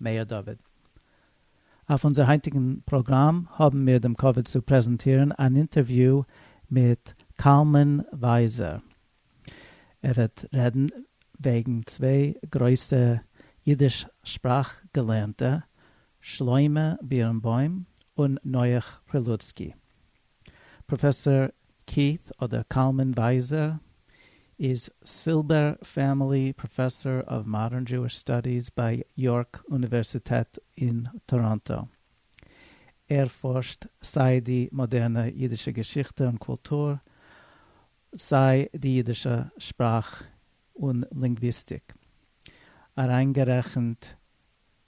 מאיר דוד. אויף אונזער היינטיגן פראגראם האבן מיר דעם כבוד צו פרעזענטירן אן אינטערוויו מיט קלמן ווייזער. ער וועט רעדן וועגן צוויי גרויסע אידיש שפראך געלערנטע, שלמה בירנבוים און נח פרילוצקי. פראפעסאר קיעט אדער קלמן ווייזער איז סילבער פעמילי פראפעסאר אוו מאדערן דזשואיש סטאדיס ביי יארק אוניווערסיטעט אין טאראנטא. ער פארשט סיי די מאדערנע אידישע געשיכטע און קולטור, סיי די אידישע שפראך און לינגוויסטיק, אריינגערעכנט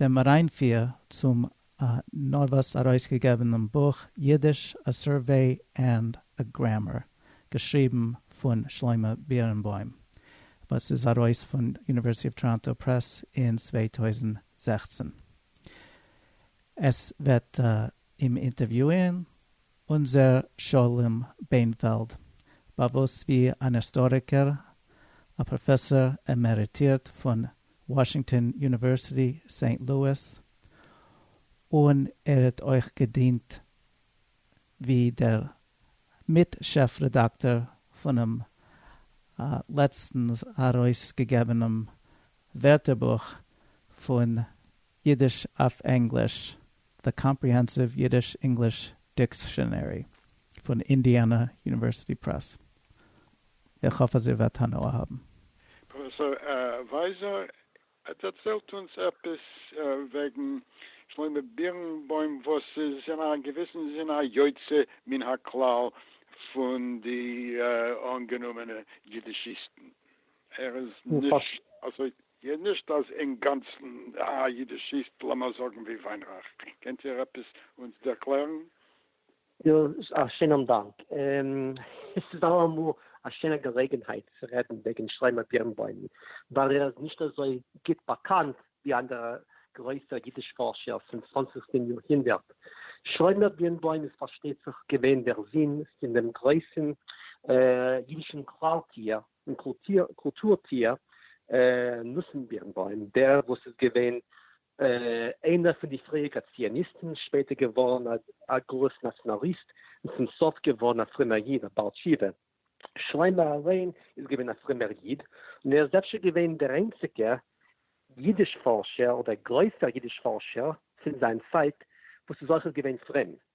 דעם אריינפיר צום נארוואס ארויסגעגעבענעם בוך יידיש א סורוועי ענד א גרעמער געשריבן פון שלמה בירנבוים וואס איז ארויס פון יוניווערסיטי אוו טאראנטא פרעס אין צוויי טויזנט זעכצן. עס וועט אים אינטערוויוען אונזער שלום בענפעלד באוואוסט ווי אן היסטאריקער א פראפעסאר עמעריטירט פון וואשינגטאן יוניווערסיטי סעינט לואיס, און ער האט אויך געדינט ווי דער מיט שעף רעדאקטאר פונעם לעצטנס ארויסגעגעבענעם ווערטערבוך פון אידיש אויף ענגליש The Comprehensive Yiddish-English Dictionary פון אינדיאנא יוניווערסיטי פרעס. איך האף אז איר וועט הנאה האבן. פרופסור ווייזער דערציילט אונז עפעס וועגן שלמה בירנבוים וואס איז אין א געוויסן זין א יוצא מן הכלל פון די אנגענומענע אידישיסטן, ער איז נישט אזוי נישט אז אינגאנצן א אידישיסט לאמיר זאגן ווי וויינרייך, קענט איר עפעס אונז ערקלערן? יא, א שיינעם דאנק. עס איז אלעמאל א שיינע געלעגנהייט צו רעדן וועגן שלמה בירנבוים, ווייל ער איז נישט אזוי גוט באקאנט ווי אנדערע גרויסע אידיש פארשער פון צוואנציגסטן יארהונדערט. שלמה בירנבוים איז פארשטייט זיך געווען דער זון פון דעם גרויסן אידישן כלל טיער און קולטור טיער נתן בירנבוים, דער וואס איז געווען איינער פון די פריעריקע ציוניסטן, שפעטער געווארן א גרויס נאציאנאליסט, און צום סוף געווארן א פרומער איד, א בעל תשובה. שלמה אליין איז געווען א פרומער איד, און ער איז אפשר געווען דער איינציגער אידיש-פארשער, אדער גרויסער אידיש-פארשער פון זיין צייט, וואס איז אויכעט געווען פרום.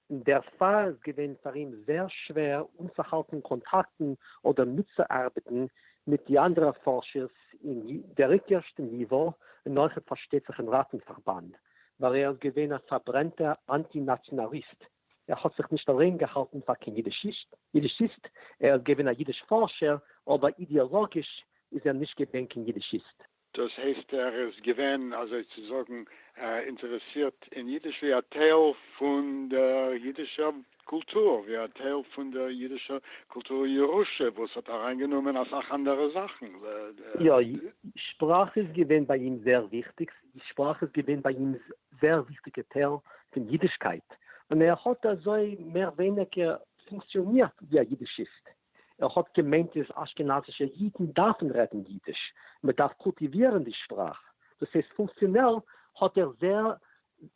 און דערפאר איז געווען פאר אים זעהר שווער אנצוהאלטן קאנטאקטן אדער מיטצוארבעטן מיט די אנדערע פארשערס אין דער איטערשטע ניווא און אויכעט פארשטייט זיך אין ראטן-פארבאנד ווייל ער איז געווען א פארברענטע אנטי נאציאנאליסט ער האט זיך נישט אליין געהאלטן פאר קיין אידישיסט ער איז געווען א אידיש פארשער אבער אידעאלאגיש איז ער נישט געווען קיין אידישיסט. דאס הייסט ער איז געווען אזוי צו זאגן אינטערעסירט אין אידיש ווי א טייל פון דער אידישער קולטור, ווי א טייל פון דער אידישער קולטור ירושה וואס האט אריינגענומען אסאך אנדערע זאכן ל. יא, שפראך איז געווען ביי אים זייער וויכטיג, שפראך איז געווען ביי אים זייער וויכטיגע טייל פון אידישקייט, און ער האט אזוי מער ווייניגער פונקציאנירט ווי א אידישיסט. ער האט געמיינט איז אשכנזישע אידן דארפן רעדן אידיש, מען דארף קולטיווירן די שפראך, דאס הייסט פונקציאנעל האט ער זייער,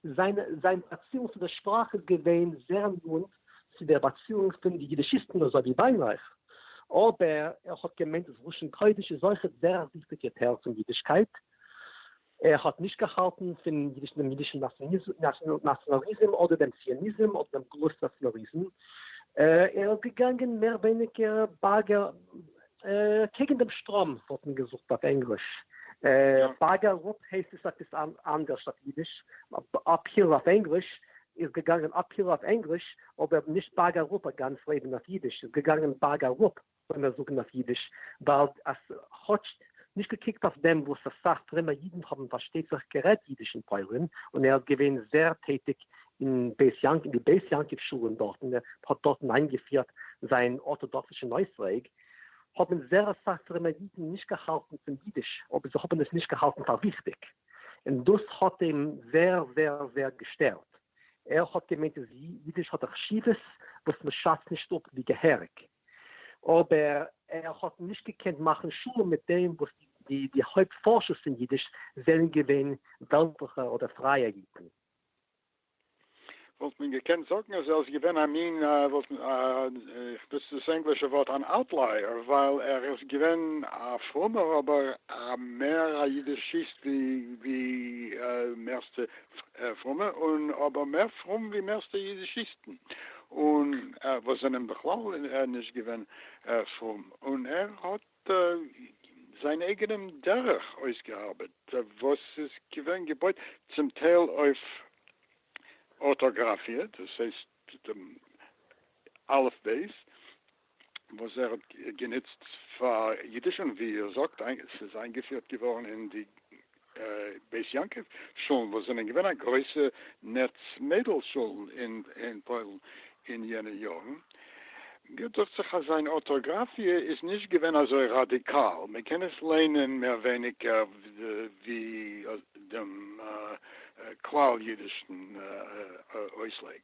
זיין זיין באציאונג צו דער שפראך איז געווען זייער נאנט צו דער באציאונג פון די אידישיסטן אזוי ווי וויינרייך, אבער ער האט געמיינט אז לשון קודש איז אויכעט זייער א וויכטיגע טייל פון אידישקייט, ער האט נישט געהאלטן פון דעם אידישן נאציאנאליזם אדער דעם ציוניזם אדער דעם גלות נאציאנאליזם, ער איז געגאנגען מער ווייניגער באגער קעגן דעם שטראם וואלט מען געזאגט אויף ענגליש, באגער אפ הייסט עס עפעס אנדערש אויף אידיש, אפהיל אויף ענגליש, איז געגאנגען אפהיל אויף ענגליש, אבער נישט באגער אפ א גאנץ לעבן אויף אידיש, איז געגאנגען באגער אפ. לאמיר זאגן אויף אידיש, ווייל אז כאטש נישט געקוקט אויף דעם וואס אסאך פרומע אידן האבן פארשטייט זיך גערעדט אידיש אין פוילין, און ער איז געווען זעהר טעטיג אין בית יעקב אין די בית יעקב שולן דארטן, ער האט דארטן איינגעפירט זיין ארטאדאקסישן אויסלייג, האבן זעהר אסאך פרומע אידן נישט געהאלטן פון אידיש, אבער זיי האבן עס נישט געהאלטן פאר וויכטיג, און דאס האט אים זעהר זעהר זעהר געשטערט, ער האט געמיינט אז אידיש האט א חשיבות וואס מען שאצט נישט אפ ווי געהעריג. אבער ער האט נישט געקענט מאכן שלום מיט דעם וואס די די הויפט פארשערס פון אידיש זענען געווען וועלטליכע אדער פרייע אידן. וואלט מען געקענט זאגן אז ער איז געווען א מין, וואלט מען, איך נוץ דאס ענגלישע ווארט, אן אוטלייער, ווייל ער איז געווען א פרומער אבער מער א אידישיסט ווי מערסטע פרומע, און אבער מער פרום ווי מערסטע אידישיסטן. און וואס זענען בכלל נישט געווען פרום, און ער האט זיין אייגענעם דרך אויסגעארבעט וואס איז געווען געבויט צום טייל אויף ארטאגראפיע, דאס הייסט אלף בית, וואס ער האט גענוצט פאר אידיש און ווי ער זאגט ס'איז איינגעפירט געווארן אין די בית יעקב שולן וואס זענען געווען א גרויסע נעץ מיידל שולן אין פוילן אין יענע יארן. מיר דוכט זיך אז זיין ארטאגראפיע איז נישט געווען אזוי ראדיקאל, מען קען עס ליינען מער ווייניגער ווי דעם כלל אידישן אויסלייג,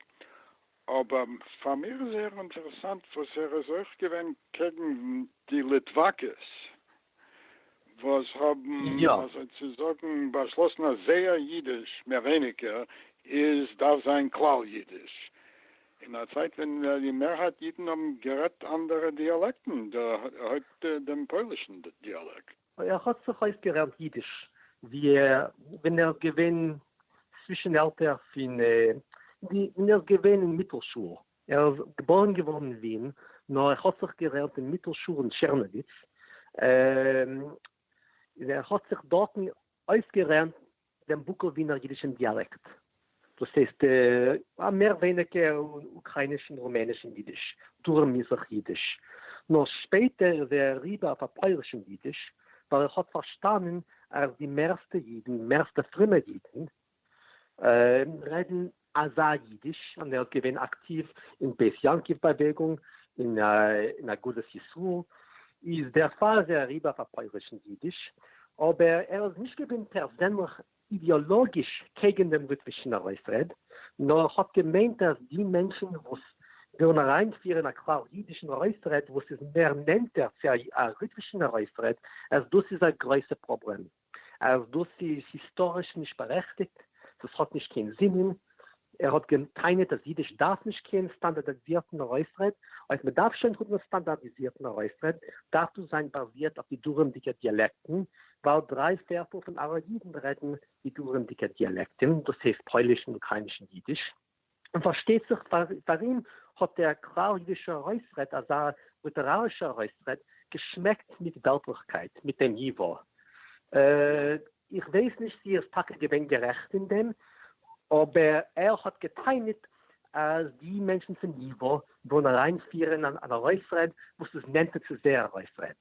אבער פאר מיר איז זייער אינטערעסאנט וואס ער איז אויך געווען קעגן די ליטוואקעס וואס האבן יא. אזוי צו זאגן באשלאסן אז זייער אידיש מער ווייניגער איז דארף זיין כלל אידיש, אין א צייט ווען די מערהייט אידן האבן גערעדט אנדערע דיאלעקטן, דערהויפט דעם פוילישן דיאלעקט. ער האָט זיך אויסגערעלט ייִדיש, ווי ער, ווען ער איז געווען צווישן עלטער פֿון די, ווען ער איז געווען אין מיטלשול. ער איז געבוירן געוואָרן אין ווין, נאָר ער האָט זיך גערעלט אין מיטלשול אין טשערנאָוויץ, און ער האָט זיך דאָרטן אויסגערענט דעם בוקאָװינער ייִדישן דיאַלעקט, דאָס הײסט, אַ מער װײניקער אוקראַיִנישן, רומענישן ייִדיש, דרום מיזרח ייִדיש, נאָר שפּעטער איז ער אַריבער אױף אַ פּױלישן ייִדיש, װײַל ער האָט פֿאַרשטאַנען, אַז די מערסטע ייִדן, מערסטע פֿרומע ייִדן, רעדן אזא אידיש און ער האט געווען אקטיוו אין בית יעקב באוועגונג און אין אגודת ישראל, איז דערפאר איז ער אריבער אויף א פוילישן אידיש, אבער ער איז נישט געווען פערזענליך אידעאלאגיש קעגן דעם ליטווישן ארויסרעד, נאר האט געמיינט אז די מענטשן וואס ווילן אריינפירן א כלל אידישן ארויסרעד וואס איז מער נענטער צו א ליטווישן ארויסרעד, אז דאס איז א גרויסע פראבלעם. אז דאס איז היסטאריש נישט בארעכטיגט, דאס האט נישט קיין זינען, ער האט גע'טענה'ט אז אידיש דארף נישט קיין סטאנדארדיזירטן ארויסרעד, אויב מען דארף שוין האבן א סטאנדארדיזירטן ארויסרעד, דארף דאס זיין באזירט אויף די דרום'דיגע דיאלעקטן, ווייל דריי פערטל פון ארא אידן רעדן די דרום'דיגע דיאלעקטן, דאס הייסט פוילישן אוקריינישן אידיש. און פארשטייט זיך פאר אים האט דער כלל אידישער ארויסרעד, אזא ליטערארישער ארויסרעד, געשמעקט מיט וועלטליכקייט, מיט דעם ייווא. איך ווייס נישט צו ער איז טאקע געווען גערעכט אין דעם, אבער ער האט גע'טענה'ט אז די מענטשן פון ייווא ווילן אריינפירן אן ארויסרעד וואס איז נענטער צו זייער ארויסרעד.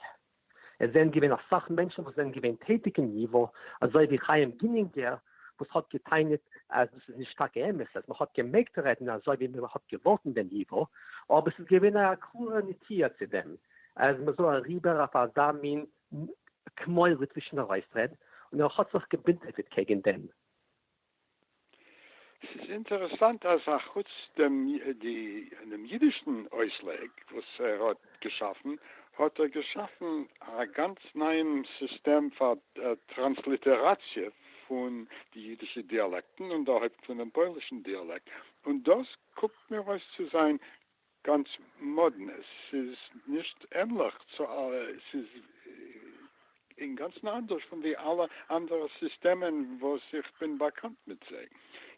עס זענען געווען אסאך מענטשן וואס זענען געווען טעטיג אין ייווא, אזוי ווי חיים גינינגער וואס האט געטענה'ט אז דאס איז נישט טאקע אמת אז מען האט געמעגט רעדן אזוי ווי מען האט געוואלט אין דעם ייווא, אבער עס איז געווען א קלארע נטייה צו דעם אז מען זאל אריבער אויף אזא מין כמו ליטווישן ארויסרעד, און ער האט זיך געבינטעפעט קעגן דעם. ס'איז אינטערעסאנט אז אחוץ דעם אידישן אויסלייג וואס ער האט געשאפן, האט ער געשאפן א גאנץ נייעם סיסטעם פאר טראנסליטעראציע פון די אידישע דיאלעקטן און דערהויפט פונעם פוילישן דיאלעקט, און דאס קוקט מיר אויס צו זיין גאנץ מאדנע, ס'איז נישט ענליך צו אלע, ס'איז אינגאנצן אנדערש פון די אלע אנדערע סיסטעמען וואס איך בין באקאנט מיט זיי.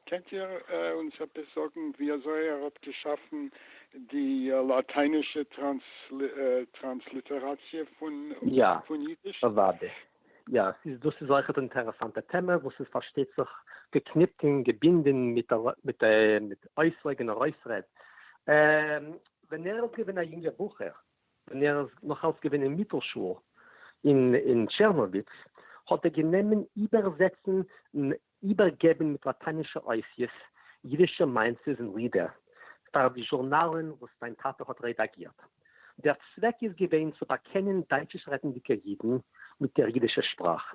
קענט איר אונז עפעס זאגן ווי אזוי ער האט געשאפן די לאטיינישע טראנסליטעראציע פון אידיש? יא, אוודאי. יא, ס'איז דאס איז אויכעט אינטערעסאנטע טעמע וואס איז פארשטייט זיך געקניפט און געבינדען מיט מיט מיט אויסלייג און ארויסרעד. ווען ער איז געווען א יונגע בחור, ווען ער איז נאך אלס געווען אין מיטל שול אין טשערנאוויץ, האט ער גענומען איבערזעצן איבערגעבן מיט לאטיינישע אותיות יידישע מעשה'ס און לידער פאר די זשורנאלן וואס זיין טאטע האט רעדאגירט. דער צוועק איז געווען צו באקענען דייטשיש-רעדנדיקע יידן מיט דער יידישער שפראך,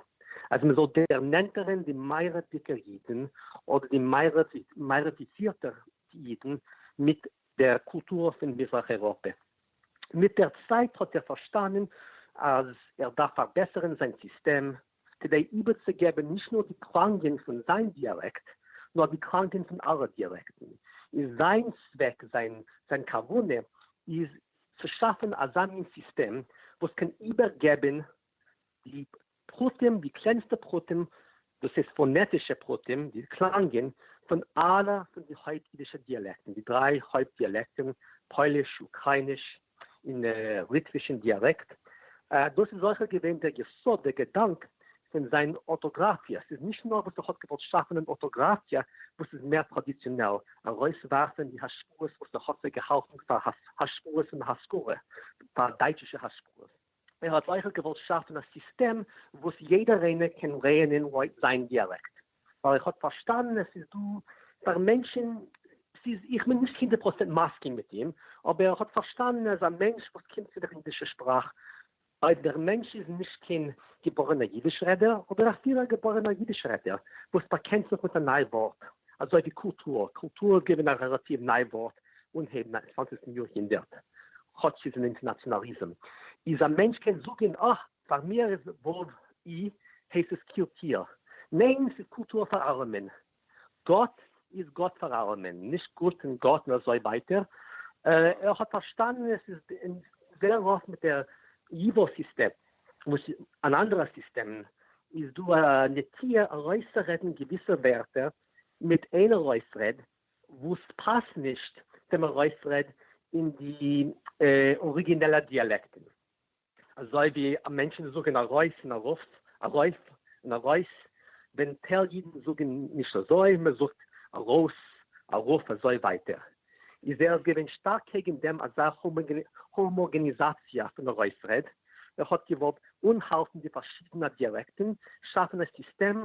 אז מען זאל דערנענטערן די מערבדיקע יידן אדער די מערביזירטע יידן מיט דער קולטור פון מזרח-אייראפע. מיט דער צייט האט ער פארשטאנען אז ער דארף פארבעסערן זיין סיסטעם כדי איבערצוגעבן נישט נאר די קלאנגען פון זיין דיאלעקט, נאר די קלאנגען פון אלע דיאלעקטן, איז זיין צוועק, זיין כוונה איז צו שאפן אזא מין סיסטעם וואס קען איבערגעבן די פרטים, די קלענסטע פרטים, דאס הייסט פאנעטישע פרטים, די קלאנגען פון אלע פון די הויפט אידישע דיאלעקטן, די דריי הויפט דיאלעקטן, פויליש, אוקרייניש, אין ליטווישן דיאַלעקט. דאָס איז אויכעט געווען דער יסוד, דער געדאַנק, פֿון זײַן אָרטאָגראַפֿיע. ס'איז נישט נאָר וואָס ער האָט געוואָלט שאַפֿן אַן אָרטאָגראַפֿיע וואָס איז מער טראַדיציאָנעל, אַרויסוואַרפֿן די השפּעות וואָס ער האָט זיי געהאַלטן פֿאַר השפּעות פֿון השכּלה, פֿאַר דײַטשישע השפּעות. ער האט אויכעט געוואלט שאפן א סיסטעם וואס יעדער איינער קען לערנען לויט זיין דיאלעקט, ווייל איך האב פארשטאנען עס איז דא פאר מענטשען, ס'איז איך בין נישט הונדערט פראצענט מסכים מיט אים, אבער איך האב פארשטאנען אז א מענטש וואס קומט פון דער אידישער שפראך, אויב דער מענטש איז נישט קיין געבוירענער אידיש רעדער, אדער אפילו א געבוירענער אידיש רעדער וואס באקענט זיך מיט א ניי ווארט, אזוי ווי קולטור, קולטור איז געווען א רעלאטיוו ניי ווארט אנהייב נײַנצן צוואַנציק יאר הונדערט, כאטש ס'איז אן אינטערנאציאנאליזם, איז א מענטש קען זאגען אה, פאר מיר איז וואלוו אי הייסט עס קירטיר, ניין ס'איז קולטור פאר אלעמען, גאט איז גאט פאר אלעמען, נישט גוט און גאט און אזוי ווייטער, ער האט פארשטאנען עס איז זעהר רוף מיט דער ייווא סיסטעם, וואס אין אנדערע סיסטעמען איז דא א נטייה ארויסצורעדן געוויסע ווערטער מיט איין ארויסרעד וואס פאסט נישט צום ארויסרעד אין די אריגינעלע דיאלעקטן, אזוי ווי מענטשן זאגן ארויס און ארויף, ארויף און ארויס, ווען טייל אידן זאגן נישט אזוי, מען זאגט ארויס, ארויף אזוי ווייטער, איז ער איז געווען שטארק קעגן דעם אזא האמאגעניזאציע פון ארויסרעד, ער האט געוואלט אנהאלטן די פארשידענע דיאלעקטן, שאפן א סיסטעם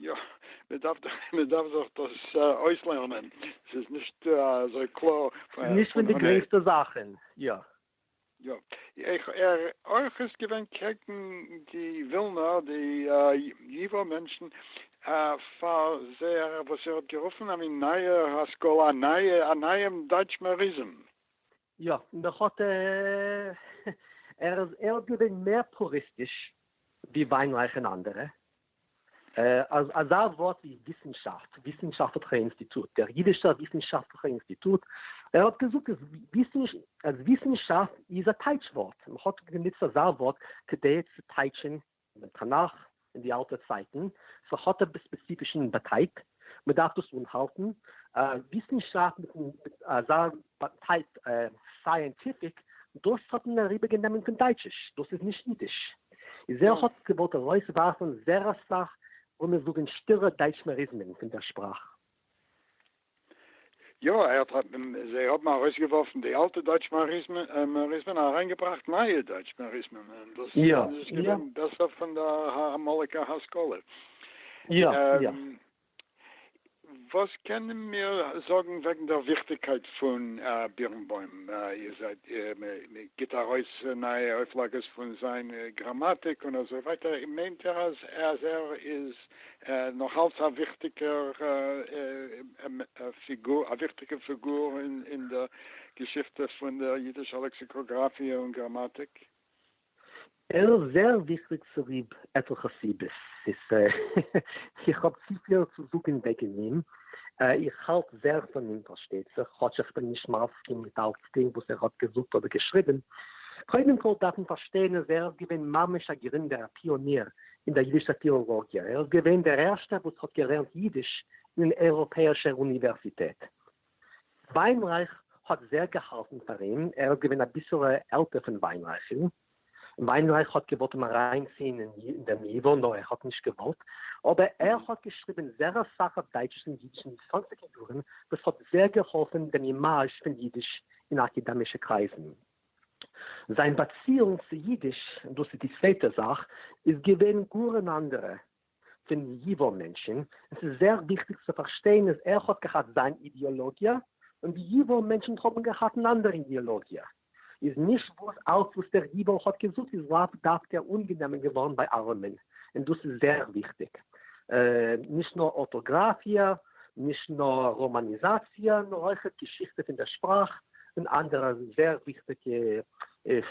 יא, מען דארף דאך, מען דארף זיך דאס אויסלערנען, ס'איז נישט אזוי קלאר פון אן עי. נישט פון די גרעסטע זאכן, יא. יא, איך ער אויך איז געווען קעגן די ווילנא, די ייווא מענטשן, פאר זייער וואס ער האט גערופן א מין נייע השכלה, א נייע, א נייעם דייטשמעריזם. יא, מען האט ער איז ער האט געווען מער פוריסטיש ווי וויינרייך און אנדערע. אז אזא ווארט ווי וויסנשאפט, וויסנשאפטליכע אינסטיטוט, דער אידישער וויסנשאפטליכע אינסטיטוט, ער האט געזאגט אז וויסנשאפט איז א טייטש ווארט, מען האט גענוצט אזא ווארט כדי צו טייטשען אין דעם תנך אין די אלטע צייטן, ס'האט עפעס ספעציפישן באטייט, מ'דארף דאס אנהאלטן, וויסנשאפט מיטן אזא באטייט סייענטיפיק, דאס האט מען אריבערגענומען פון דייטשיש, דאס איז נישט אידיש. איז ער האט געוואלט ארויסווארפן זערא סאך, לאמיר זאגן, שטילע דייטשמעריזמען פון דער שפראך. יא, ער האט האט זיי האבן ארויסגעווארפן די אלטע דויטש מאריזמען און אריינגעבראכט נייע דויטש מאריזמען און דאס איז געווען בעסער פון די אמאליגע השכלה. יא, יא. וואס קענען מיר זאגן וועגן דער וויכטיגקייט פון בירנבוים? איר זעט מען גיבט ארויס נייע אויפלאגעס פון זיין גראמאטיק און אזוי ווייטער, מיינט איר אז ער איז נאך אלץ א וויכטיגע פיגור אין דער געשיכטע פון דער יידישער לעקסיקאגראפיע און גראמאטיק. ער איז זייער וויכטיג צוליב עטליכע סיבות. איך האב צופיל צו זאגן וועגן אים. איך האלט זייער פון אים, פארשטייט זיך, כאטש איך בין נישט מסכים מיט אלצדינג וואס ער האט געזאגט אדער געשריבן. קודם כול דארף מען פארשטיין אז ער איז געווען ממש א גרינדער, א פיאניר, אין דער ייִדישער פֿילאָלאָגיע. ער איז געווען דער ערשטער וואָס האָט געלערנט ייִדיש אין אַן אייראָפּעיִשער אוניווערסיטעט. ווײַנרײַך האָט זייער געהאַלטן פֿאַר אים. ער איז געווען אַ ביסל עלטער פֿון ווײַנרײַכן. ווײַנרײַך האָט געוואָלט אים אַרײַנציִען אין דעם ייִוואָ, נאָר ער האָט נישט געוואָלט. אָבער ער האָט געשריבן זייער אַ סך אויף דײַטשיש און ייִדיש אין די צוואַנציקער יאָרן, וואָס האָט זייער געהאָלפֿן דעם אימאַזש פֿון ייִדיש אין אַקעדעמישע קרײַזן. זיין באציאונג צו אידיש, דאס איז די צווייטע זאך, איז געווען גאר אן אנדערע פון ייווא מענטשן, עס איז זייער וויכטיג צו פארשטיין אז ער האט געהאט זיין אידעאלאגיע און די ייווא מענטשן האבן געהאט אן אנדערע אידעאלאגיע, איז נישט וואס אלס וואס דער ייווא האט געזאגט איז לאו דווקא אנגענומען געווארן ביי אלעמען, און דאס איז זייער וויכטיג, נישט נאר ארטאגראפיע נישט נאר ראמאניזאציע נאר אויכעט געשיכטע פון דער שפראך און אנדערע זעהר וויכטיגע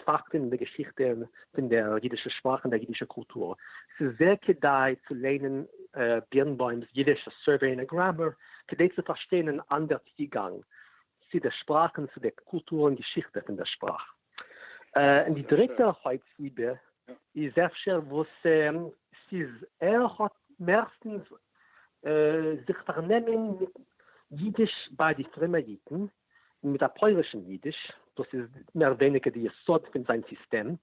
פאקטן אין דער געשיכטע פון דער אידישער שפראך און דער אידישער קולטור. ס'איז זעהר כדאי צו ליינען בירנבוים'ס אידיש, א סורוועי און א גראמער, כדי צו פארשטיין אן אנדער צוגאנג צו דער שפראך און צו דער קולטור און געשיכטע פון דער שפראך. און די דריטע הויפט סיבה איז אפשר וואס ס'איז ער האט מערסטנס זיך פארנעמען מיט אידיש ביי די פרומע אידן, מיט א פוילישן אידיש, דאס איז מער ווייניגער די יסוד פון זיין סיסטעם,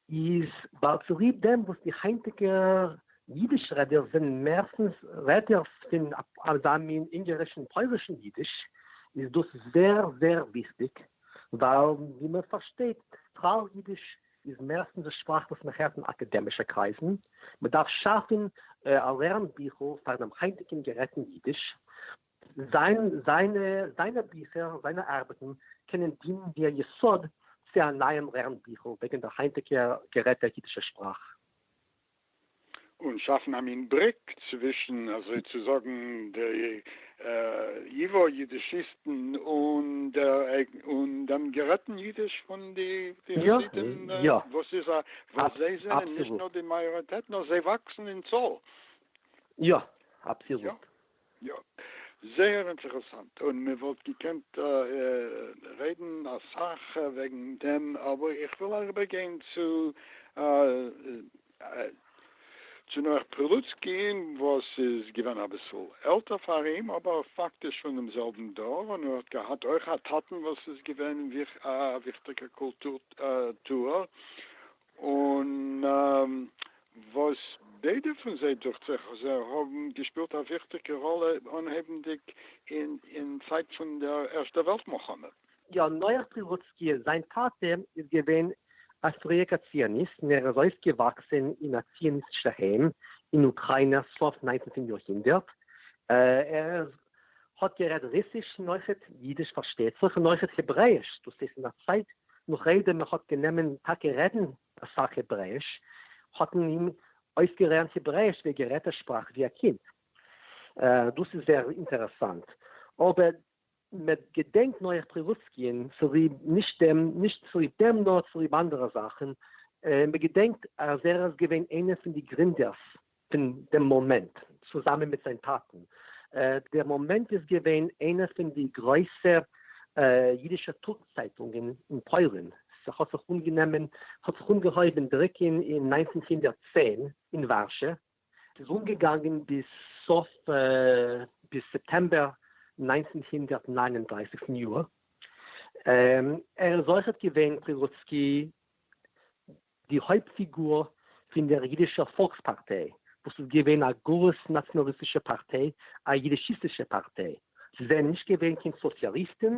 איז ווייל צוליב דעם וואס די היינטיגע יידיש רעדער זענען מערסטנס רעדערס פון אזא מין אונגערישן פוילישן יידיש איז דאס זעהר זעהר וויכטיג ווייל ווי מען פארשטייט כלל יידיש איז מערסטנס די שפראך וואס מען הערט אין אקעדעמישע קרייזן מען דארף שאפן א לערן ביכל פאר דעם היינטיגן גערעדטן יידיש. זיין זיינע זיינע ביכער, זיינע ארבעטן, קענען דינען ווי א יסוד צו א נייעם לערן ביכל וועגן דער היינטיגער גערעדטער אידישער שפראך. און שאפן א מין בריק צווישן אזוי צו זאגן די ייווא יידישיסטן און דעם גערעדטן אידיש פון די חסידים וואס איז א וואס זיי זענען נישט נאר די מאיאריטעט נאר זיי וואקסן אין צאל. יא, אבסעלוט. יא. זייער אינטערעסאנט, און מען וואלט געקענט רעדן אסאך וועגן דעם, אבער איך וויל אריבער גיין צו צו נח פרילוצקי וואס איז געווען אביסל עלטער פאר אים, אבער פאקטיש פון דעם זעלבן דור, און ער האט געהאט אויך א טאטן וואס איז געווען א וויכטיגער קולטור טוער, און וואס ביידע פון זיי דוכט זיך אז זיי האבן געשפילט א וויכטיגע ראלע אנהייבנדיג אין צייט פון דער ערשטער וועלט מלחמה. יא, נח פריוואצקי, זיין טאטע איז געווען א פריעקע ציוניסט און ער איז אויפגעוואקסען אין א ציוניסטישע היים אין אוקריינא סוף ניינצנטן יאר הונדערט, ער איז האט גערעדט רוסיש און אויכעט אידיש פארשטייט זיך און אויכעט העברעאיש, דאס איז אין א צייט נאך איידער מען האט גענומען טאקע רעדן אסאך העברעאיש האט מען אים אויסגערענט העברעאיש ווי ער גערעדט ער שפראך ווי א קינד. דאס איז זייער אינטערעסאנט אבער מען געדענקט נאר איך פרילוצקי'ן צוליב נישט דעם נישט צוליב דעם נאר צוליב אנדערע זאכן, מען געדענקט אז ער איז געווען איינער פון די גרינדערס פון דעם מאמענט, צוזאמען מיט זיין טאטן. דער מאמענט איז געווען איינע פון די גרויסע אידישע טאג צייטונגען אין פוילן. ס'האט זיך אנגענומען, ס'האט זיך אנגעהויבן דרוקן אין נײַנצן הונדערט צען אין ווארשע, ס'איז אנגעגאנגען ביז סוף, ביז סעפטעמבער נײַנצן הונדערט נײַן און דרײַסיק פון יאר. ער איז אויכעט געווען פרירוצקי די הויפט פיגור פון דער יידישער פאלקס-פארטיי, וואס איז געווען א גארס נאציאנאליסטישע פארטיי, א יידישיסטישע פארטיי. זיי זענען נישט געווען קיין סאציאליסטן,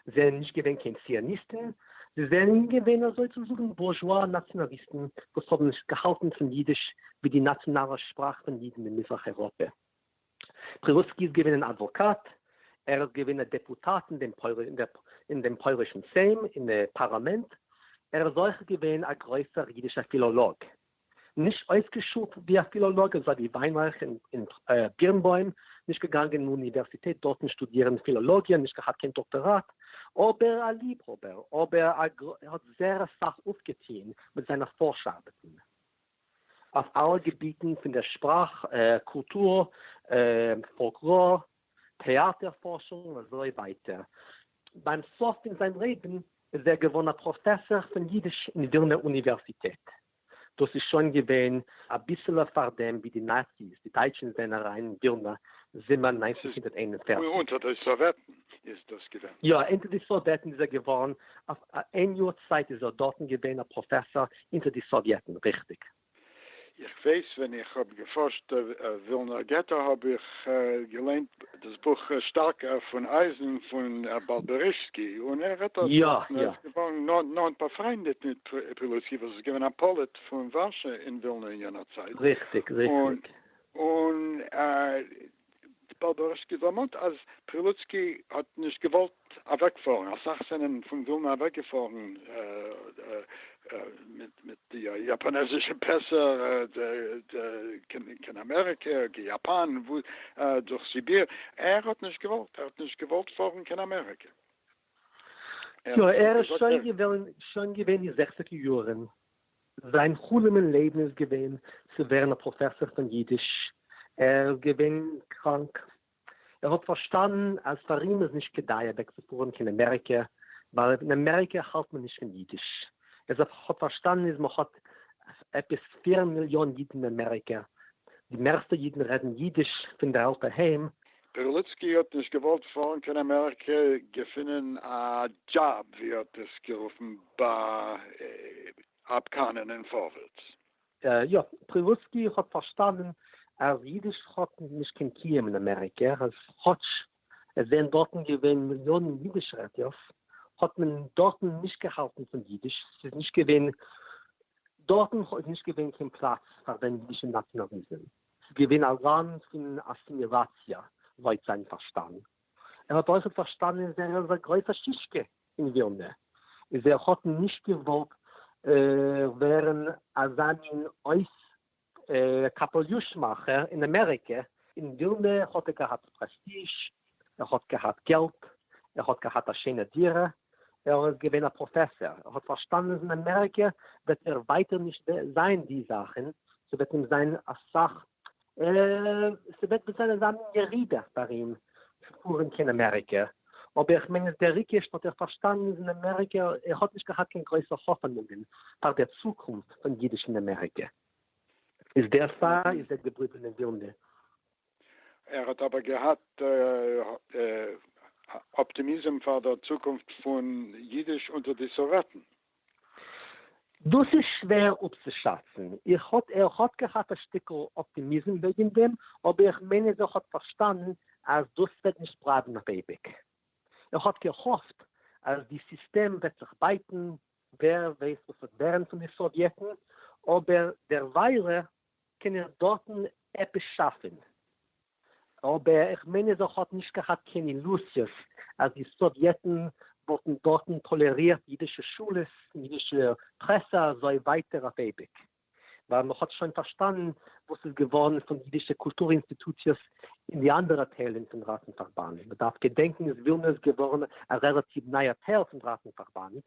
זיי זענען נישט געווען קיין ציוניסטן, זיי זענען געווען אזוי צו זאגן בורזשווא נאציאנאליסטן וואס האבן געהאלטן פון יידיש ווי די נאציאנאלע שפראך פון יידן אין מזרח אייראפע. פרירוסקי איז געווען אן אדוואקאט, ער איז געווען א דעפוטאט אין דעם אין דעם פוילישן סעים, אין די פארלאמענט, ער איז אויך געווען א גרויסער אידישער פילאלאג, נישט אויסגעשולט ווי א פילאלאג אזוי ווי וויינרייך און בירנבוים, נישט געגאנגען אין אוניווערסיטעט דארטן שטודירן פילאלאגיע, נישט געהאט קיין דאקטאראט, אבער א ליבהאבער, אבער ער האט זעהר אסאך אויפגעטוהן מיט זיינע פארש ארבעטן. אויף אלע געביטן פון דער שפראך, קולטור, פאלקלאר, טעאטער, פארשונג און אזוי ווייטער. ביים סוף פון זיין לעבן איז ער געווארן א פראפעסאר פון יידיש אין ווילנער אוניווערסיטעט. דאס איז שוין געווען אביסעלע פאר דעם ווי די נאציס, די דייטשן, זענען אריין אין ווילנא זומער נײַנצן הונדערט איין און פֿערציק. אונטער די סאוועטן איז דאס געווען? יא, אונטער די סאוועטן איז ער געווארן, אויף איין יאר צייט איז ער דארטן געווען א פראפעסאר אונטער די סאוויעטן, ריכטיג? איך ווייס ווען איך האב געפארשט ווילנער געטא האב איך געליינט דאס בוך שטארקע פון אייזן פון באלבערישסקי און ער רעדט דארט וואס מען איז געווארן נאנט באפריינדעט מיט פילויסקי וואס איז געווען א פאליט פון ווארשע אין ווילנא אין יענער צייט. ריכטיג, ריכטיג. און טבארבארסקי דערמאנט אז פרילוצקי האט נישט געוואלט אוועקפארן, אסאך זענען פון ווילנא אוועקגעפארן מיט די יאפאנעזישע פעסער קיין אמעריקע, קיין יאפאן, דורך סיביר, ער האט נישט געוואלט, ער האט נישט געוואלט פארן קיין אמעריקע. יא ער איז שוין געווען אין די זעכציגער יארן. זיין חלום אין לעבן איז געווען צו ווערן א פראפעסאר פון אידיש, ער איז געווען קראנק, ער האט פארשטאנען אז פאר אים איז נישט כדאי אוועקצופארן קיין אמעריקע ווייל אין אמעריקע האלט מען נישט פון אידיש, ער האט פארשטאנען איז מען האט עפעס פֿיר מיליאן אידן אין אמעריקע, די מערסטע אידן רעדן אידיש פון די אלטע היים. פערליצקי האט נישט געוואלט פארן קיין אמעריקע, געפינען א דזשאב ווי ער האט עס גערופן ביי אפקאנען און פארווערטס. יא, פערליצקי האט פארשטאנען אז אידיש האט נישט קיין קיום אין אמעריקע, אז כאטש עס זענען דארטן געווען מיליאנען אידיש רעדערס, האט מען דארטן נישט געהאלטן פון אידיש, ס'איז נישט געווען דארטן איז נישט געווען קיין פלאץ פאר זיין אידישע נאציאנאליזם. ס'איז געווען א ראן פון אסימיליאציע לויט זיין פארשטאנד. ער האט אויכעט פארשטאנען ווער איז א גרויסע שישקע אין ווילנע, איז ער האט נישט געוואלט ווערן אזא מין אויס קאפעליוש מאכער אין אמעריקע. אין ווילנע האט ער געהאט פרעסטיזש, ער האט געהאט געלט, ער האט געהאט א שיינע דירה, ער איז געווען א פראפעסער, ער האט פארשטאנען אז אין אמעריקע וועט ער ווייטער נישט זיין די זאכען, ס'וועט אים זיין אסאך, ס'וועט וועט זיין אזא מין ירידה פאר אים צו פארען קיין אמעריקע, אבער איך מיין אז דער ריקש האט ער פארשטאנען אז אין אמעריקע, ער האט נישט געהאט קיין גרויסע האפענונגען פאר דער צוקונפט פון אידיש אין אמעריקע, איז דערפאר איז ער געבליבען אין ווילנע, ער האט אבער געהאט אפטימיזם פאר דער צוקונפט פון אידיש אונטער די סאוועטן. דאס איז שווער אפצושאצן. איך האט ער האט געהאט א שטיקל אפטימיזם וועגן דעם, אבער איך מיין אז ער האט פארשטאנען אז דאס וועט נישט בלייבן אויף אייביג. ער האט געהאפט אז די סיסטעם וועט זיך בייטן, ווער ווייסט וואס וועט ווערן פון די סאוויעטן, אבער דערוויילע קען איך דארטן עפעס שאפן. אבער איך מיין אז ער האט נישט געהאט קיין אילוזיעס אז די סאוויעטן וואלטן דארטן טאלערירט אידישע שולעס און אידישע פרעסע אזוי ווייטער אויף אייביג. ווייל מען האט שוין פארשטאנען וואס איז געווארן פון אידישע קולטור אינסטיטוציעס אין די אנדערע טיילן פון ראטנפארבאנד. מען דארף געדענקן איז ווילנע איז געווארן א רעלאטיוו נייער טייל פון ראטנפארבאנד.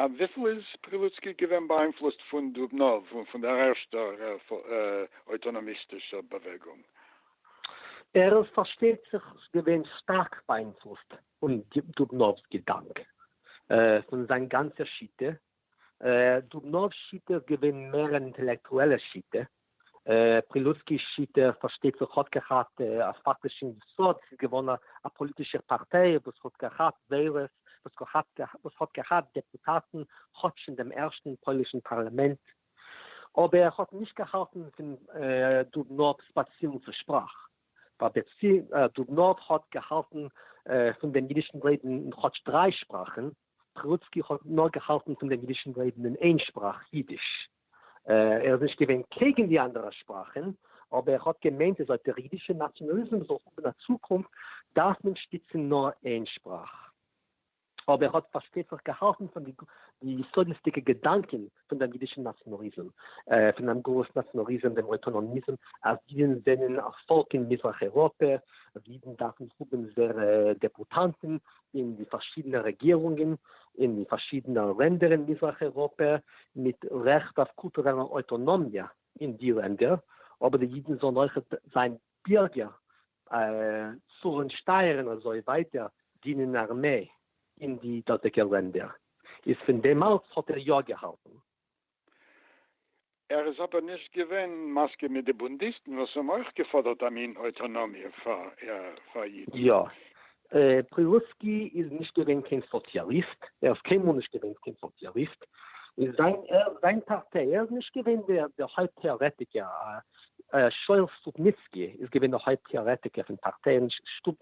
אויף וויפיל איז פרילוצקי געווען באיינפלוסט פון דובנאוו און פון דער ערשטער אויטאנאמיסטישער באוועגונג? ער איז פארשטייט זיך געווען שטארק באיינפלוסט פון דובנאוו'ס געדאנק, פון זיין גאנצע שיטה. דובנאוו'ס שיטה איז געווען מער אן אינטעלעקטועלע שיטה, פרילוסקי'ס שיטה פארשטייט זיך האט געהאט א פאקטישן יסוד, ס'איז געווען א פאליטישער פארטיי וואס האט געהאט וועלערס, וואס האט געהאט דעפוטאטן כאטש אין דעם ערשטן פוילישן פארליאמענט, אבער ער האט נישט געהאלטן פון דובנאוו ספעציעלן צו שפראך, ווייל דובנאוו האט געהאלטן פון דעם אידישן לעבן אין כאטש דריי שפראכן, סטרוצקי האט נאר געהאלטן פון דעם אידישן לעבן אין איין שפראך, אידיש. ער איז נישט געווען קעגן די אנדערע שפראכן, אבער ער האט געמיינט אז אויב דער אידישער נאציאנאליזם זאל האבן א צוקונפט, דארף מען שטיצן נאר איין שפראך. אבער ער האט פארשטייט זיך געהאלטן פון די יסודות'דיגע געדאנקען פון דעם יידישן נאַציאָנאַליזם, פון דעם גלות נאַציאָנאַליזם, דעם אויטאָנאָמיזם, אַז יידן זענען אַ פֿאָלק אין מיזרח-אייראָפּע, אַז יידן דאַרפֿן האָבן זייערע דעפּוטאַנטן אין די פֿאַרשידענע רעגירונגען אין די פֿאַרשידענע לענדער אין מיזרח-אייראָפּע, מיט רעכט אויף קולטורעלע אויטאָנאָמיע אין די לענדער, אָבער די יידן זאָלן אויך זיין בירגער צאלן שטייערן אזוי ווייטער דינען ארמעי אין די דאזיגע לענדער איז פון דעמאלטס האט ער יא געהאלטן. ער איז אבער נישט געווען מסכים מיט די בונדיסטן וואס האבן אויך געפאדערט א מין אויטאנאמיע פאר אידן. יא, פרילוסקי איז נישט געווען קיין סאציאליסט, ער איז קיינמאל נישט געווען קיין סאציאליסט, און זיין זיין פארטיי, ער איז נישט געווען דער דער הויפט טעארעטיקער, שואל סטופניצקי איז געווען דער הויפט טעארעטיקער פון פארטיי, און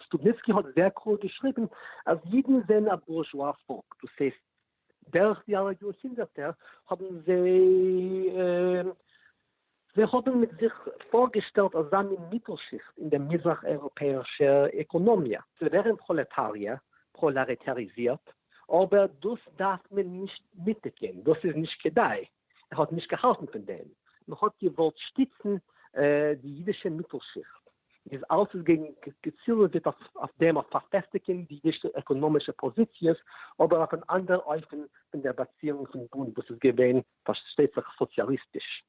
סטופניצקי האט זייער קלאר געשריבן אז אידן זענען א בורזשואר פאלק, דאס הייסט דורך די אלע יארהונדערטער האבן זיי זיי האבן מיט זיך פארגעשטעלט אזא מין מיטל-שיכט אין דער מזרח-אייראפעאישער עקאנאמיע. זיי ווערן פראלעטאריע, פראלארעטאריזירט, אבער דאס דארף מען נישט מיטקען, דאס איז נישט כדאי. ער האט נישט געהאלטן פון דעם, מען האט געוואלט שטיצן די אידישע מיטל שיכט, איז אלס איז געצילוועט אויף דעם אויף פארפעסטיגען די אידישע עקאנאמישע פאזיציעס, אבער אויף אן אנדער אופן פון דער באציאונג פון בונד וואס איז געווען פארשטייט זיך סאציאליסטיש.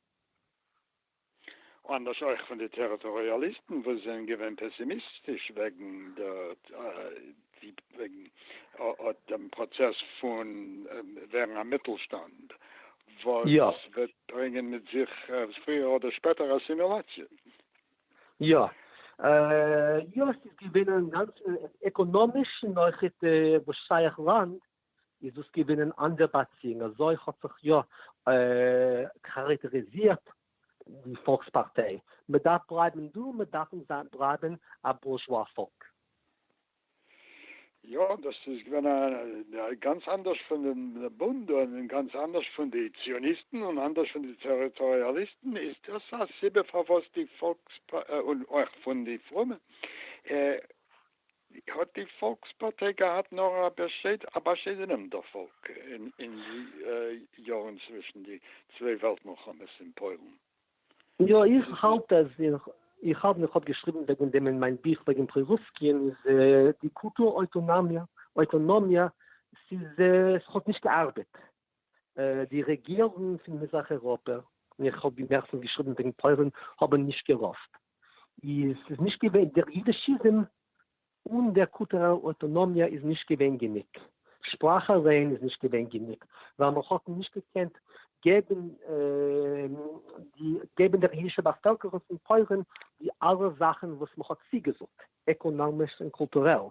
אנדערש אויך פון די טעריטאריאליסטן וואס זענען געווען פעסימיסטיש וועגן דעם פראצעס פון ווערן א מיטלשטאנד וואס וועט ברענגען מיט זיך פריער אדער שפעטער אסימילאציע. יא. יא, ס'איז געווען אינגאנצן עקאנאמיש נאכט וואס שייך לאנד. איז דאס געווען אין אנדער באציאונג, אזוי האט זיך יא כאראקטעריזירט די פאלקס פארטיי, מען דארף בלייבן דא, מיר דארפן בלייבן א בורזשווא פאלק. יא, דאס איז געווען גאנץ אנדערש פון די בונד, און גאנץ אנדערש פון די ציוניסטן, און אנדערש פון די טעריטאריאליסטן, איז דאס א סיבה פארוואס די פאלקס, און אויך פון די פרומע, ווי האט די פאלקס פארטיי געהאט נאר א באשיידענעם דערפאלג אין די יארן צווישן די צוויי וועלט מלחמות אין פוילן? יא, איך האלט אז איך האב איך האב געשריבן וועגן דעם אין מיין בוך וועגן פרורוסקין איז די קולטור אויטאנאמיע, ס'איז עס האט נישט געארבעט, די רעגירונגן פון מזרח אייראפע, און איך האב מערסטנס געשריבן וועגן פוילן, האבן נישט געראפט. איז ס'איז נישט געווען דער יידישיזם אן דער קולטורעלער אויטאנאמיע איז נישט געווען גענוג. שפראך אליין איז נישט געווען גענוג, ווייל מען האט נישט געקענט געבן די געבן דער יידישער באפעלקערונג פון פוילן די אלע זאכן וואס מען האט צוגעזאגט. עקאנאמיש און קולטורעל,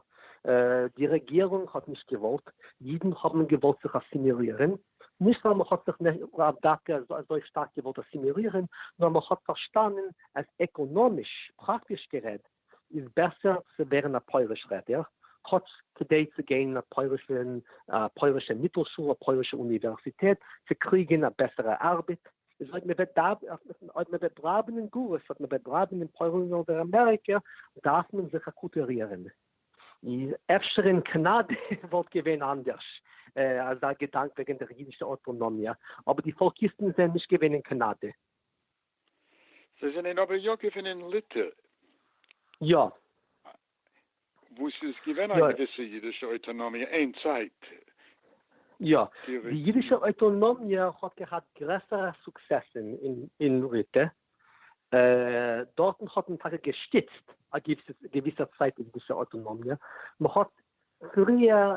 די רעגירונג האט נישט געוואלט, אידן האבן געוואלט זיך אסימילירען, נישט ווייל מען האט זיך לאו דווקא אזוי שטארק געוואלט אסימילירען, נאר מען האט פארשטאנען אז עקאנאמיש, פראקטיש גערעדט, איז בעסער צו ווערן א פויליש רעדער, כאטש כדי צו גיין אין א פוילישע מיטל שול, א פוילישע אוניווערסיטעט, צו קריגען א בעסערע ארבעט, איז אויב מען וועט דארף אויב מען וועט בלייבן אין גלות אויב מען וועט בלייבן אין פוילן אדער אמעריקע דארף מען זיך אקוטערירן איז אפשר אין קאנאדע וואלט געווען אנדערש אזא געדאנק וועגן דער אידישע אוטאנאמיע אבער די פאלקיסטן זענען נישט געווען אין קאנאדע. זיי זענען אבער יא געווען אין ליטע. יא. וואו ס'איז געווען א געוויסע אידישע אויטאנאמיע אין צייט. יא. די אידישע אויטאנאמיע האט געהאט גרעסערע סוקסעסן אין ליטע. דארטן האט מען טאקע געשטיצט א געוויסע צייט די אידישע אויטאנאמיע. מ'האט פריער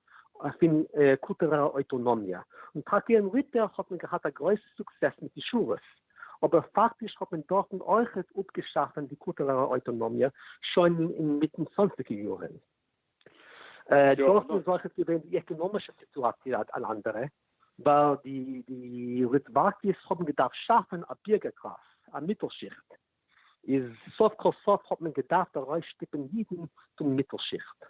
פון קולטורעלע אויטאנאמיע, און טאקע אין ליטע האט מען געהאט א גרויסע סוקסעס מיט די שורות, אבער פאקטיש האט מען דארטן אויכעט אפגעשאפן די קולטורעלע אויטאנאמיע שוין אין מיטן צוואנציגע יארן. דארטן איז אויכעט געווען די עקענאמישע סיטואציע אן אנדערע, ווייל די ליטוואקעס האבן געדארפט שאפן א בירגער קלאס, א מיטל שיכט. איז סוף כל סוף האט מען געדארפט ארויסשטיפען אידן פון מיטל שיכט.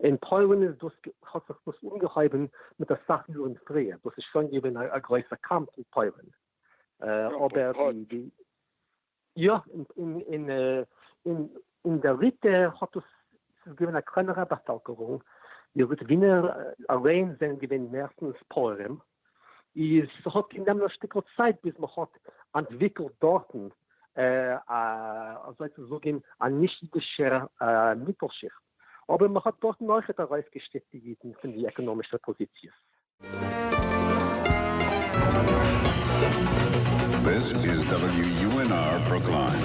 אין פוילן איז דאס האט זיך דאס אנגעהויבען מיט אסאך יארן פריער, דאס איז שוין געווען א גרויסע קאמף אין פוילן, אבער די יא אין די ליטע האט דאס ס'איז געווען א קלענערע באפעלקערונג, די ליטווינער אליין זענען געווען מערסטענס פויערים, איז ס'האט גענומען א שטיקל צייט ביז מ'האט אנטוויקלט דארטן א אזוי צו זאגען א נישט אידישער מיטל שיכט, אבער מ'האט דארטן אויכעט ארויסגעשטיפט די אידן פון די עקאנאמישע פאזיציעס. This is WUNR Brookline.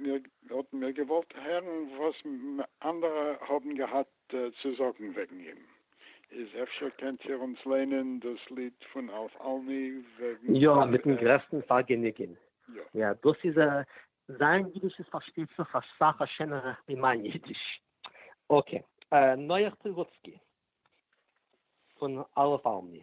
מיר האט מיר געוואלט הערן וואס אנדערע האבן געהאט צו זאגן וועגן אים, איז אפשר קענט איר אונז לערנען דאס ליד פון אלף אלמי וועגן. יא, מיטן גרעסטן פארגעניגן. יא, דאס איז א. זיין אידיש איז פארשטייט זיך אסאך א שענערע ווי מיין אידיש. אקעי, נח פריוואצקי פון אלף אלמי.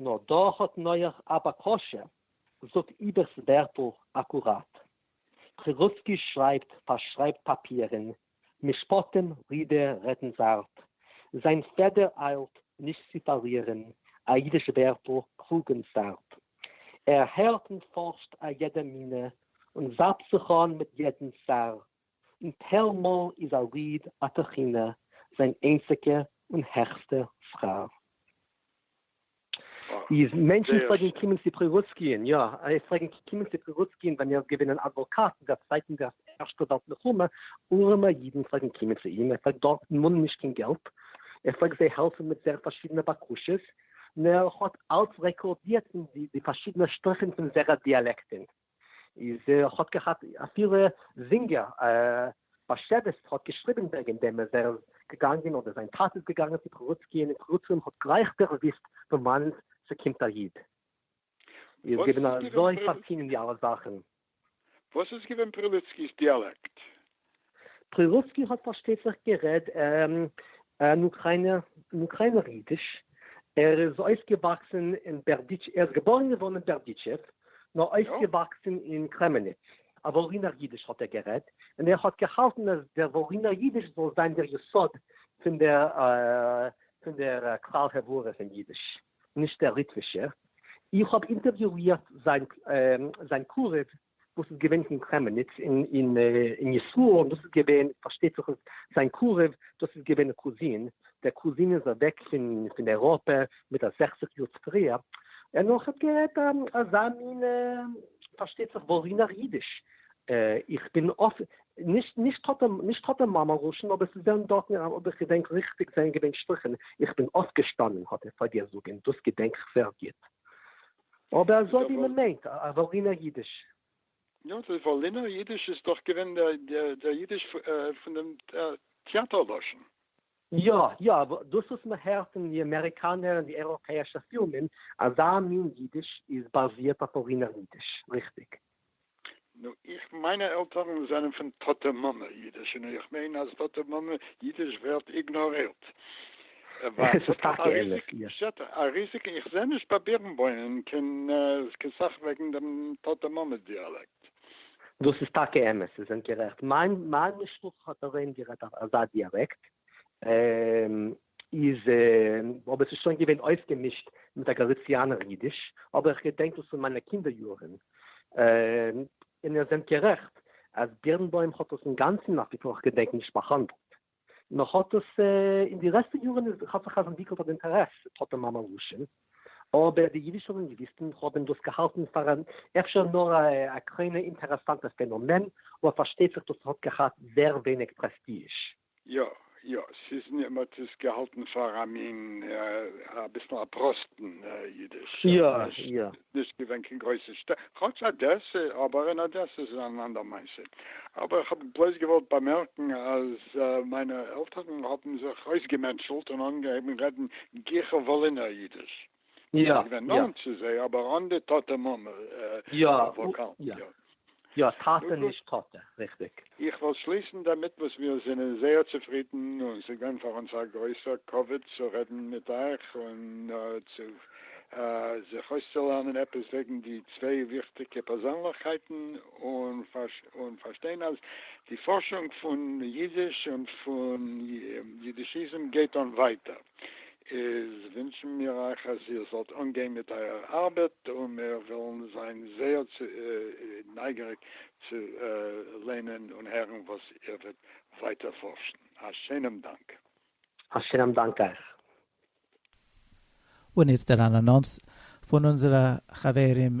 נאר דא האט נח א בקשה, זאג איבער'ס ווערטל אקוראט. פרירוצקי שרייבט פארשרייבט פאפירען, משפטים רידע רעדן זארט, זיין פעדער איילט נישט צי פארלירען א אידיש ווערטל קלוגען סארט. ער הערט און פארשט א יעדע מינה און זאפט זיך אן מיט יעדען סארט. און טייל מאל איז א ליד א תחינה זיין איינציגע און העכסטע שכר. איז מענטשן פלעגן קומען צו פרילוצקי'ן, יא, זיי פלעגן קומען צו פרילוצקי'ן ווען ער איז געווען אן אדוואקאט אין דער צווייטן וועלט מלחמה, ארעמע אידן פלעגן קומען צו אים, ער פלעגט דארט מאנען נישט קיין געלט, ער פלעגט זיי העלפן מיט זייערע פארשידענע בקשות, און ער האט אלץ רעקארדירט די פארשידענע שטריכן פון זייערע דיאלעקטן. איז האט געהאט אפילו זינגער באשעוויס האט געשריבען וועגען דעם אז ער איז געגאנגען אדער זיין טאטע איז געגאנגען צו פרוצקי און אין פרוצלום האט גלייך דערוואוסט פון וואנען ס'קומט א איד איז געווען אזוי פארטינען די אלע זאכען. וואס איז געווען פרילוצקי'ס דיאלעקט? פרירוסקי האט פארשטייט זיך גערעד אין אוקריינער אידיש, ער איז אויפגעוואקסן אין בערדיטשעוו, ער איז געבוירן געווארן אין בערדיטשעוו, נאר אויפגעוואקסן אין קרעמעניץ, א וואלינער אידיש האט ער גערעדט, און ער האט געהאלטן אז דער וואלינער אידיש זאל זיין דער יסוד פון דער כלל העברה פון אידיש, נישט דער ליטווישער. איך האב אינטערוויואירט זיין קרוב וואס איז געווען פון קרעמעניץ אין ישראל, און דאס איז געווען, פארשטייט זיך אז זיין קרוב, דאס איז געווען א קוזין, דער קוזין איז אוועק פון אייראפע מיט א זעכציק יאר צופריער, און אויך האט גערעדט אזא מין, פארשטייט זיך וואלינער אידיש, איך בין נישט טאטע מאמע לשון, אבער ס'איז ווען דארטן, אויב איך געדענק ריכטיג זענען געווען שטריכן, איך בין אויפגעשטאנען האט ער פארגעזאגען, דאס געדענק איך זייער גוט, אבער אזוי ווי מען מיינט א וואלינער אידיש. יא, די וואלינער אידיש איז דאך געווען דער אידיש פון דעם טעאטער לשון. יא, יא, דאס וואס מען הערט אין די אמעריקאנער און די אייראפעאישע פילמען, אזא מין אידיש איז באזירט אויף וואלינער אידיש, ריכטיג. נו איך מיינע עלטערן זענען פון טאטע מאמע אידיש און איך מיין אז טאטע מאמע אידיש ווערט איגנארירט ווייל עס האט א ריזיגע פשט א ריזיגע איך זע נישט ביי בירנבוימען קיין סאך וועגן דעם טאטע מאמע דיאלעקט. דאס איז טאקע אמת זיי זענט גערעכט מיין מיין משפחה האט אריין גערעדט אזא דיאלעקט איז אבער ס'איז שוין געווען אויפגעמישט מיט א גאליציאנער אידיש, אבער איך געדענק דאס פון מיינע קינדער יארן, און איר זענט גערעכט אז בירנבוים האט דאס אינגאנצן אויף וויפיל איך געדענק נישט באהאנדלט, מען האט דאס אין די לעצטע יארן איז האט זיך אז אנטוויקלט אן אינטערעס טאטע מאמע לשון, אבער די אידישע לינגוויסטן האבן דאס געהאלטן פאר אן אפשר נאר א קליינע אינטערעסאנטע פענאמען, אבער פארשטייט זיך דאס האט געהאט זעהר ווייניג פרעסטיזש. יא יא, ס'איז מיר, מ'האט עס געהאלטן פאר א מין אביסל א פראסטן אידיש, נישט געווען קיין גרויסע שטעט, כאטש אדעסע, אבער אין אדעסע איז אן אנדער מעשה, אבער איך האב בלויז געוואלט באמערקן אז מיינע עלטערן האבן זיך אויסגעמענטשלט און אנגעהויבן רעדן גיכער וואלינער אידיש. יא יא. געווען נאנט צו זיי אבער אן די טאטע מאמע וואקאלן. יא יא. יא טאטע נישט טאטע, ריכטיג. איך וועל שליסן דערמיט וואס מיר זענען זייער צופרידן און ס'איז געווען פאר אונז א גרויסע כבוד צו רעדן מיט אייך און צו זיך אויסצולערנען עפעס וועגן די צוויי וויכטיגע פערזענליכקייטן און פארשטיין אז די פארשונג פון אידיש און פון אידישיזם גייט אן ווייטער איז ווינטשן מיר אייך אז איר זאלט אנגיין מיט אייער ארבעט, און מיר וועלן זיין זייער נייגעריג צו ליינען און הערן וואס איר וועט ווייטער פארשן. א שענעם דאנק. א שענעם דאנק אייך. און איצטער אן אנאנס פון אונזערע חברים